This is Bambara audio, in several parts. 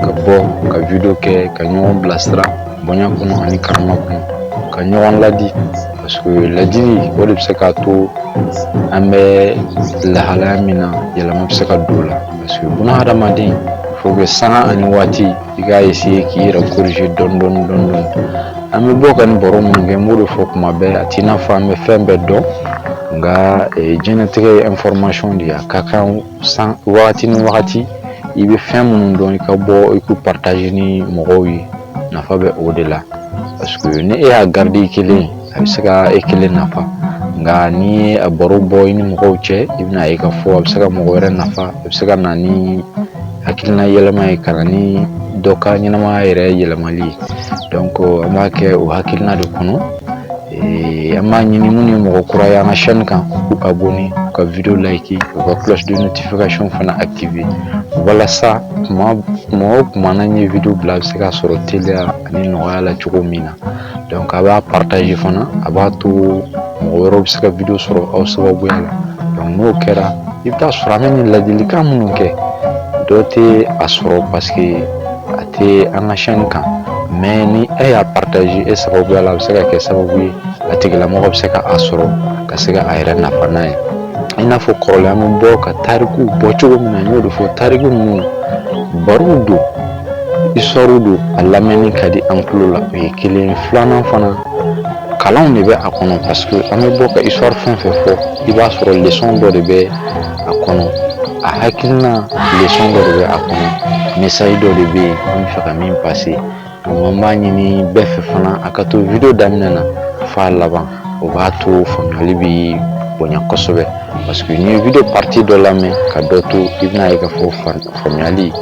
ka bɔ ka video kɛ ka ɲɔgɔn bilasira bonya kɔnɔ ani karama kɔnɔ ka ɲɔgɔn ladi parce que ladili o de bɛ se k'a to an bɛ lahalaya min na yɛlɛma bɛ se ka don o la parce que buna hadamaden faut que sanga ani waati i k'a essayer k'i yɛrɛ corriger dɔɔni dɔɔni dɔɔni dɔɔni an bɛ bɔ ka nin baro minnu kɛ n b'o de fɔ kuma bɛɛ a t'i n'a fɔ an bɛ fɛn bɛɛ dɔn nka diɲɛlatigɛ ye information de ye a ka kan san wagati ni wagati i bɛ fɛn minnu dɔn i ka bɔ i k'u partager ni mɔgɔw ye nafa bɛ o de la parce que ni e y'a garder kelen a bɛ se ka e kelen nafa nka n'i ye a baro bɔ i ni mɔgɔw cɛ i bɛna ye k'a fɔ a bɛ se ka mɔgɔ wɛrɛ nafa a bɛ se ka na ni hakilina yɛlɛma ye ka na ni dɔ ka ɲɛnamaya yɛrɛ yɛlɛmali ye donc an b'a kɛ o hakilina de kɔnɔ An b'a ɲini minnu ye mɔgɔ kura ye an ka chaine kan u ka abonner u ka video liker u ka cloche de notification fana activer walasa tuma o tuma n'an ye video bila a bɛ se ka sɔrɔ teliya ani nɔgɔya la cogo min na donc a b'a partager fana a b'a to mɔgɔ wɛrɛw bɛ se ka video sɔrɔ aw sababuya la donc n'o kɛra i bɛ taa sɔrɔ an bɛ nin ladilikan minnu kɛ dɔ tɛ a sɔrɔ parce que a tɛ an ka chaine kan mais ni e y'a partager e sababuya la a bɛ se ka kɛ sababu ye a tigilamɔgɔ bɛ se ka a sɔrɔ ka se ka a yɛrɛ nafa n'a ye i n'a fɔ kɔrɔlen an bɛ bɔ ka tariku bɔ cogo min na n y'o de fɔ tariku ninnu barow don histoire don a lamɛnni ka di an tulo la o ye kelen ye filanan fana kalanw de bɛ a kɔnɔ parce que an bɛ bɔ ka histoire fɛn fɛn fɔ i b'a sɔrɔ leçon dɔ de bɛ a kɔnɔ a hakilina leçon dɔ de bɛ a kɔnɔ message dɔ de bɛ yen an bɛ fɛ ka min passer donc an b'a ɲini bɛɛ fɛ fana a ka to video daminɛ na f'a laban o b'a to faamuyali bɛ bonya kosɛbɛ parce que n'i ye video partie dɔ lamɛn ka dɔ to i bɛna ye k'a fɔ faamuyali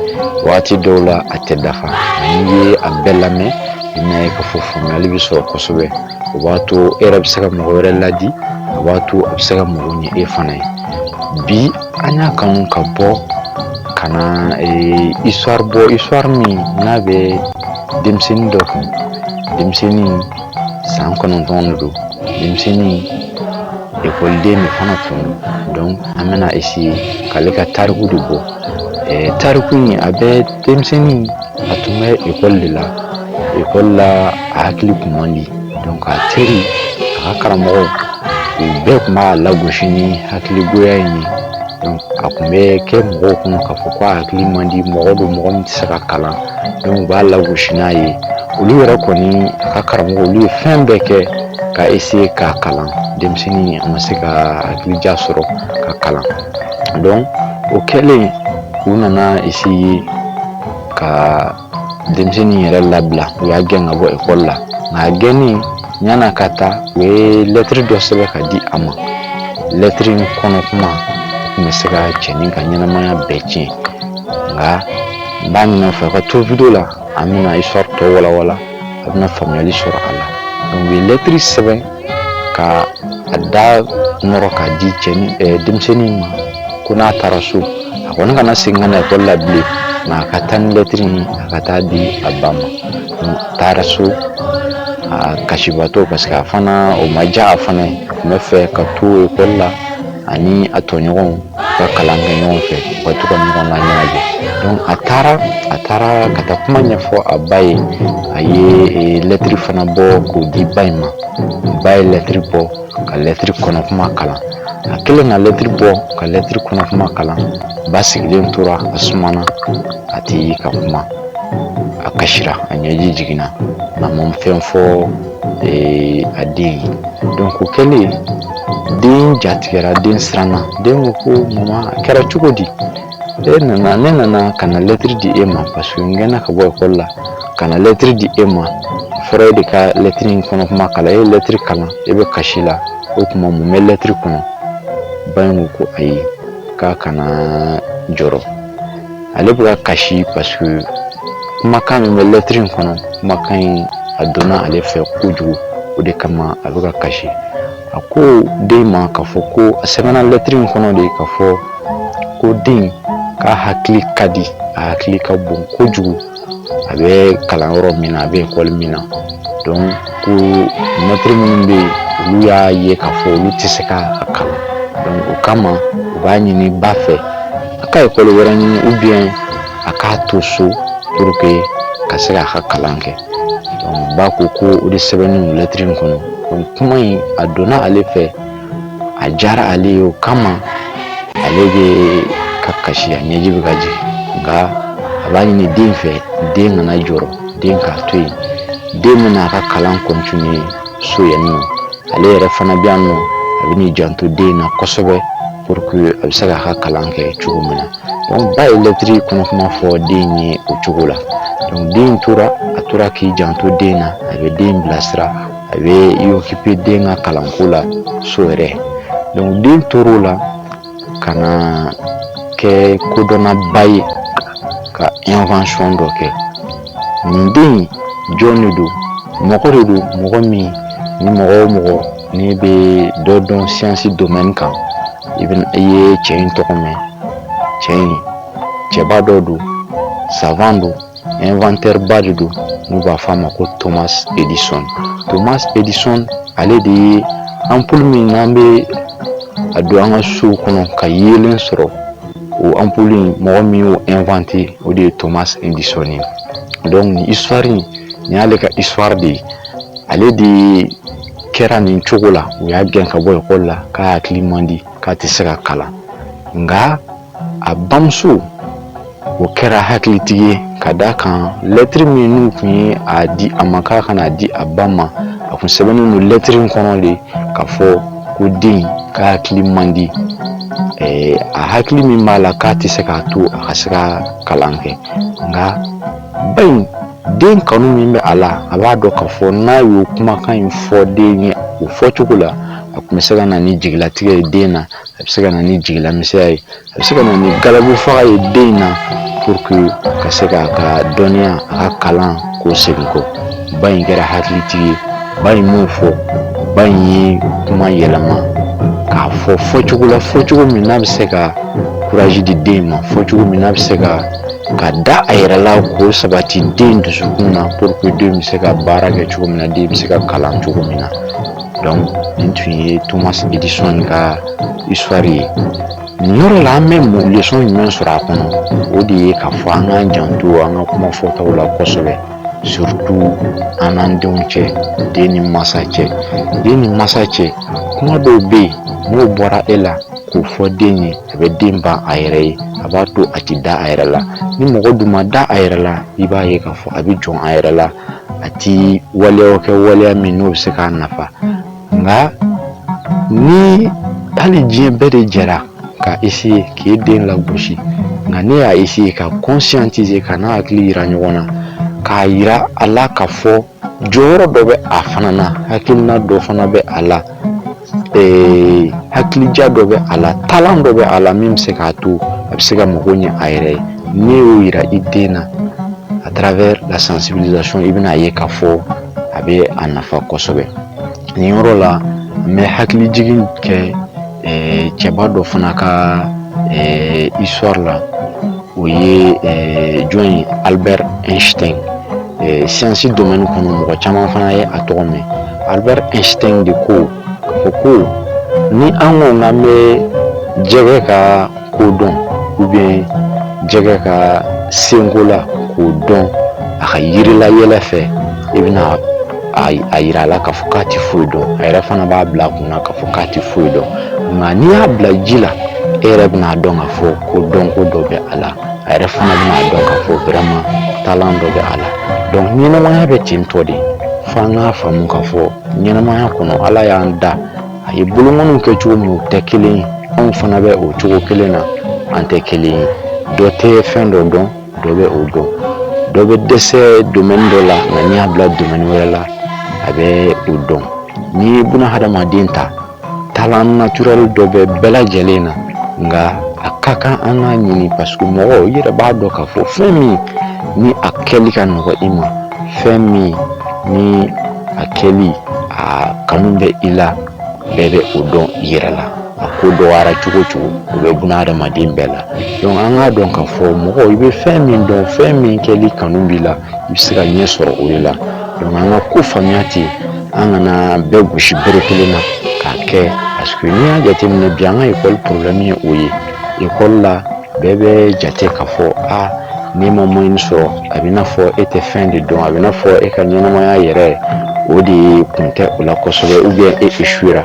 waati dɔw la a tɛ dafa n'i ye a bɛɛ lamɛn i bɛna ye k'a fɔ faamuyali bɛ sɔrɔ kosɛbɛ o b'a to e yɛrɛ bɛ se ka mɔgɔ wɛrɛ laadi o b'a to a bɛ se ka mago ɲɛ e fana ye bi an y'a kanu ka bɔ ka na histoire bɔ histoire min n'a bɛ denmisɛnnin dɔ kan denmisɛnnin san kɔnɔntɔn de don denmisɛnnin ekɔliden de fana tun don an bɛna essayer k'ale ka tariku de bɔ Tariku in a bɛ denmisɛnnin a tun bɛ ekɔli de la ekɔli la a hakili tun man di donc a teri a ka karamɔgɔw u bɛɛ tun b'a lagosi ni hakiligoya in ye a tun bɛ kɛ mɔgɔw kɔnɔ k'a fɔ k'a hakili man di mɔgɔ don mɔgɔ min tɛ se ka kalan donc u b'a lagosi n'a ye olu yɛrɛ kɔni a ka karamɔgɔ olu ye fɛn bɛɛ kɛ ka essayer k'a kalan denmisɛnnin a ma se ka hakilija sɔrɔ ka kalan o kɛlen u nana essayer ka denmisɛnnin yɛrɛ labila u y'a gɛn ka bɔ ekɔli la nka a gɛnnen yann'a ka taa u ye lɛtiri dɔ sɛbɛn ka di a ma lɛtiri in kɔnɔ kuma tun bɛ se ka cɛnin ka ɲɛnamaya bɛɛ tiɲɛ nka n b'a ɲin'a fɛ ka to video la an bɛna histoire tɔ walawala a bɛna faamuyali sɔrɔ a la donc u ye lɛtiri sɛbɛn ka a da nɔrɔ k'a di cɛ denmisɛnnin ma ko n'a taara so a kɔni kana segin ka na ekɔli la bilen nka a ka taa ni lɛtiri in ye a ka taa di a ba ma a taara so a kasibaatɔ parce que a fana o ma diya a fana ye a tun b'a fɛ ka to ekɔli la ani a tɔɲɔgɔnw ka kalan kɛ ɲɔgɔn fɛ u ka to ka ɲɔgɔn laɲɛnajɛ donc a taara ka taa kuma ɲɛfɔ a ba ye a ye eh, lɛtiri fana bɔ k'o di ba in ma ba ye lɛtiri bɔ ka lɛtiri kɔnɔ kuma kalan a kɛlen ka lɛtiri bɔ ka lɛtiri kɔnɔ kuma kalan ba sigilen tora a sumana a tɛ ka kuma a kasira a ɲɛji jiginna nka a ma fɛn fɔ a den ye donc o kɛlen den jatigɛra den siranna den ko ko mama a kɛra cogo di e nana ne nana ka na lɛtiri di e ma parce que n gɛnna ka bɔ ekɔli la ka na lɛtiri di e ma fɔra e de ka lɛtiri in kɔnɔ kuma kalan e ye lɛtiri kalan e bɛ kasi la o tuma mun bɛ lɛtiri kɔnɔ ba in ko ko ayi k'a kana jɔrɔ ale bɛ ka kasi parce que kumakan min bɛ lɛtiri in kɔnɔ kumakan in a donna ale fɛ kojugu o de kama a bɛ ka kasi a ko den ma k'a fɔ ko a sɛbɛnna lɛtiri in kɔnɔ de k'a fɔ ko den k'a hakili ka di a hakili ka bon kojugu a bɛ kalan yɔrɔ min na a bɛ ekɔli min na donc ko mɛtiri minnu bɛ yen olu y'a ye k'a fɔ olu tɛ se ka a kalan donc o kama u b'a ɲini ba fɛ a ka ekɔli wɛrɛ ɲini ou bien a k'a to so pour que ka se k'a ka kalan kɛ donc ba ko ko o de sɛbɛnnen lɛtiri in kɔnɔ donc kuma in a donna ale fɛ a diyara ale ye o kama ale bɛ ka kasi ɲɛji bɛ ka jigin nka a b'a ɲini den fɛ den kana jɔrɔ den k'a to yen den bɛna a ka kalan continuer so yan nɔ ale yɛrɛ fana bɛ yan nɔ a bɛn'i janto den na kosɛbɛ pour que a bɛ se k'a ka kalan kɛ cogo min na donc ba ye lɛtiri kɔnɔ kuma fɔ den ye o cogo la donc den tora a tora k'i janto den na a bɛ den bilasira a bɛ i occuper den ka kalanko la so yɛrɛ donc den tor'o la ka na kɛ kodɔnnaba ye ka invention dɔ kɛ nin den jɔn de don mɔgɔ de don mɔgɔ min ni mɔgɔ o mɔgɔ n'i bɛ dɔ dɔn science domaine kan i ye cɛ in tɔgɔ mɛn cɛ in cɛba dɔ don savant don inventeur ba de don n'u b'a fɔ a ma ko thomas edison thomas edison ale de ye anpulu min n'an bɛ a don an ka sow kɔnɔ ka yeelen sɔrɔ o anpulu in mɔgɔ min y'o inventé o de ye thomas edison ye donc nin histoire in nin y'ale ka histoire de ye ale de kɛra nin cogo la u y'a gɛn ka bɔ ekɔli la k'a hakili man di k'a tɛ se ka kalan nka a bamuso o kɛra hakilitigi ye ka d'a kan lɛtiri min n'u tun ye a di a ma k'a ka n'a di a ba ma a kun sɛbɛnnen don lɛtiri in kɔnɔ de k'a fɔ ko den ka hakili man di a hakili min b'a la k'a tɛ se k'a to a ka se ka kalan kɛ nka ba in den kanu min bɛ a la a b'a dɔn k'a fɔ n'a y'o kumakan in fɔ den ye o fɔcogo la a tun bɛ se ka na ni jigilatigɛ ye den na a bɛ se ka na ni jigilamisɛnya ye a bɛ se ka na ni galabu faga ye den in na pour que ka se k'a ka dɔnniya a ka kalan k'o segin kɔ ba in kɛra hakilitigi ye ba in m'o fɔ ba in ye kuma yɛlɛma k'a fɔ fɔcogo la fɔcogo min n'a bɛ se ka kuraji di den ma fɔcogo min n'a bɛ se ka ka da a yɛrɛ la k'o sabati den dusukun na pour que den bɛ se ka baara kɛ cogo min na den bɛ se ka kalan cogo min na donc nin tun ye thomas edison ka histoire ye nin yɔrɔ la an bɛ leçon jumɛn sɔrɔ a kɔnɔ o de ye k'a fɔ an k'an janto an ka kuma fɔtaw la kosɛbɛ surtout an n'an denw cɛ den ni masa cɛ den ni masa cɛ kuma dɔw bɛ yen n'o bɔra e la k'o fɔ den ye a bɛ den ban a yɛrɛ ye a b'a to a tɛ da a yɛrɛ la ni mɔgɔ dun ma da a yɛrɛ la i b'a ye k'a fɔ a bɛ jɔn a yɛrɛ la a tɛ waleyaw kɛ waleya min n'o bɛ se k'a nafa nka ni hali diɲɛ bɛɛ de jɛra ka essayer k'i den lagosi nka n'e y'a essayer k'a conscientiser ka n'a hakili yira ɲɔgɔn na k'a yira a la k'a fɔ jɔyɔrɔ dɔ bɛ a fana na hakilina dɔ fana bɛ a la ee hakilija dɔ bɛ a la talent dɔ bɛ a la min bɛ se k'a to a bɛ se ka mago ɲɛ a yɛrɛ ye n'i y'o yira i den na à travers la sensibilisation i bɛna a ye k'a fɔ a bɛ a nafa kosɛbɛ nin yɔrɔ la n bɛ hakilijigin kɛ cɛba dɔ fana ka histoire la o ye eh, jɔn ye albert einstein eh, siyansi domɛni kɔnɔ mɔgɔ caman fana ye a tɔgɔ mɛn albert einstein de ko k'a fɔ ko ni an ko k'an bɛ jɛgɛ ka ko dɔn ou bien jɛgɛ ka senko la k'o dɔn a ka yiri la yɛlɛ fɛ i bɛna a yira a la k'a fɔ k'a tɛ foyi dɔn a yɛrɛ fana b'a bila a kun na k'a fɔ k'a tɛ foyi dɔn nka n'i y'a bila ji la e yɛrɛ bɛna dɔn k'a fɔ ko dɔnko dɔ bɛ a la a yɛrɛ fana bɛna dɔn k'a fɔ vraiment talent dɔ bɛ a la donc ɲɛnamaya bɛ ten tɔ de fo an k'a faamu k'a fɔ ɲɛnamaya kɔnɔ ala y'an da a ye bolokɔniw kɛ cogo min tɛ kelen ye anw fana bɛ o cogo kelen na an tɛ kelen ye dɔ tɛ fɛn dɔ dɔn dɔ bɛ o dɔn dɔ bɛ dɛsɛ domaine dɔ la nka n'i y'a bila domaine wɛrɛ la a bɛ o dɔn n'i ye buna hadamaden ta talent naturel dɔ bɛ bɛɛ lajɛlen na nka a ka kan an k'a ɲini parce que mɔgɔ i yɛrɛ b'a dɔn k'a fɔ fɛn min ni a kɛli ka nɔgɔ i ma fɛn min ni a kɛli a kanu bɛ i la bɛɛ bɛ o dɔn i yɛrɛ la a ko dɔgɔyara cogo o cogo o bɛ buna hadamaden bɛɛ la donc an k'a dɔn k'a fɔ mɔgɔ i bɛ fɛn min dɔn fɛn min kɛli kanu b'i la i bɛ se ka ɲɛ sɔrɔ o de la donc an ka ko faamuya ten an kana bɛɛ gosi bere kelen na k'a kɛ parce que n'i y'a jateminɛ bi an ka ekɔli problème ye o ye ekɔli la bɛɛ bɛ jate k'a fɔ a n'i ma moyenne sɔrɔ a b'i n'a fɔ e tɛ fɛn de dɔn a b'i n'a fɔ e ka ɲɛnamaya yɛrɛ o de kun tɛ o la kosɛbɛ ou bien e échouera